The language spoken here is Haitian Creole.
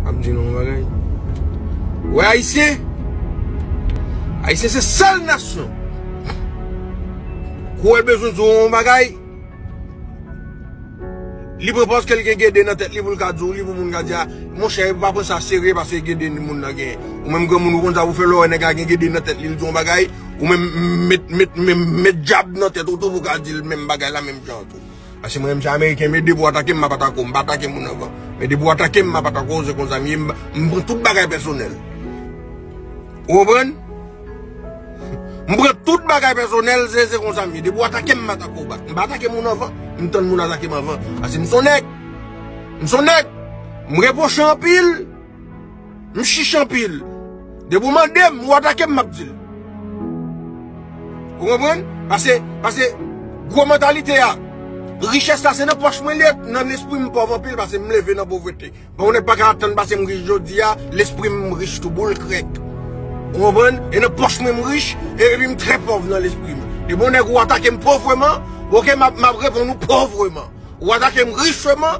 Map di nou yon bagay Ou wè ayisyen Ayisyen se sèl nasyon Kou el bezwen di w yon bagay Li pran paske l gen gede nan tèt li pou l ka di w li pou moun ka di a Monchè yo pa pran sa serye paske gede moun nan gen Ou menm granmoun ou konn sa pou fè lè w wè nèg la gen gede nan tèt li l di w yon bagay Ou menm met met met met djab nan tèt ou tou pou w ka di l menm bagay la menm jan tou Paske mwen menm se ameriken m ye depi w atake m m ap atake w m pa atake moun ankò men depi w atake m m ap atake w se konsa m ye m pran tout bagay pèsonèl ou konprann m pran tout bagay pèsonèl se se konsa m ye depi w atake m m atake w bak m pa atake moun ankò m tann moun atake m anvan paske m son nèg m son nèg m repwoche anpil. M chich anpil. Depi ou mande m, ou atake m, m ap di l. Ou konprann? Pase, pase, gwo mantalite a, richès la se nan pòch mwen li ye, nan lespri m, m pòv anpil pase m leve nan povrete. Bon, yon nèg pa ka atann pase m rich jodi a, lespri m rich tou boul krèk. Ou konprann? E nan pòch mwen m rich, e epi m trè pòv nan lespri m. Depi yon nèg ou atake m povreman, ok, m ap, m ap reponn ou povreman. Ou atake m richman.